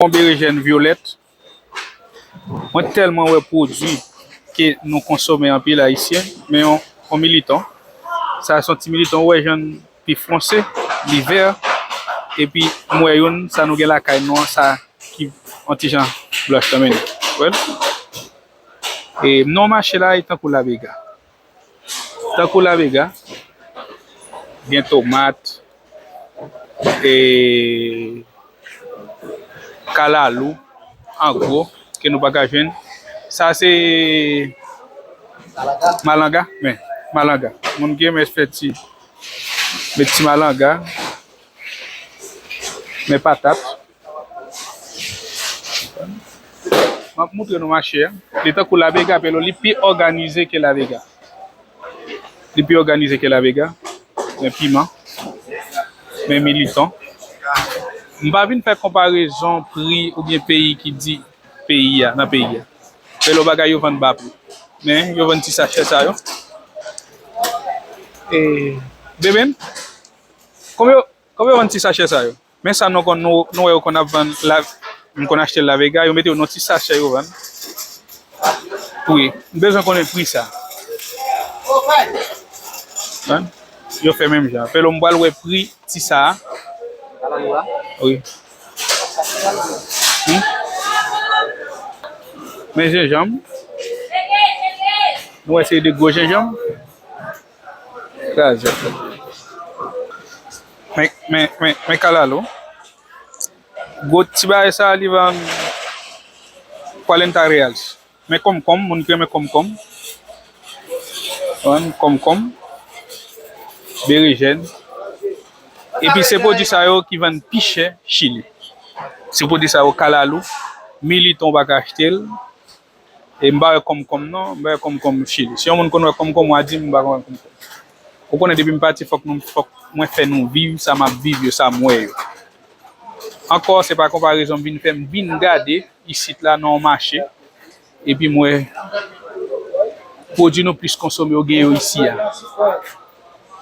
Bon berejèn vyolèt. Mwen tèlman wè pwodwi ke nou konsome anpil ayisyen men yon militon. Sa son ti militon ou wè jann li fonse, li vè epi m wè youn sa nou gen lakay nou an sa ki yon ti jan blanch tanmen. Ou wèl? E non mache la e tankou labega. Tankou la vega gen tomat e kalalou an gwo ke nou pa ka jwenn. Sa se malanga men malanga moun ki renmen fè ti met ti malanga men patat. Map moutre nou mache a. Li tankou la vega pero li pi òganize ke la vega. Li pi òganize ke la vega. Men piman. Men militan. M pa vin fè konparezon pri oubyen peyi ki di peyi a nan peyi a. Pero bagay yo vann ba pri. Men yo vann ti sachè sa yo. E bebem. Konbyen Konbyen yo vann ti sachè sa yo? Men sa nou wè yo konn ap vann la, m konn achte l la vega, yo mete yo nan yon ti sachè yo vann. Wi, m bezwen konnen pri sa. Yo fè menm jan. Fè lò m pral wè pri ti sa. Wi. Men jenjanm. Mwen wè se de gwo jenjanm. Kraze fè. Men, men, men, men kalalou. Gwo ti bagay sa li vann Cuarenta reals. Men konmkonm, moun ki renmen konmkonm. Vann konmkonm, berejèn. Epi se pwodui sa yo ki vann pi chè Chili. Se pwodui sa yo kalalou, militon ou pa ka achte l. E m pa wè kòmkòm non, m pa wè kòmkòm chili. Si yon moun konn wè kòmkòm wa di m m pa konn wè kòmkòm. Ou konnen depi m pati fòk nou fòk mwen fè nou viv sa m ap viv yo, sa m wè yo. Ankò se pa konparezon m vin fè m vin gade isit la nan yon mache epi m wè pwodui nou plis konsome yo gen yo isi a.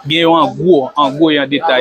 Gen yo an gwo, an gwo e an detay.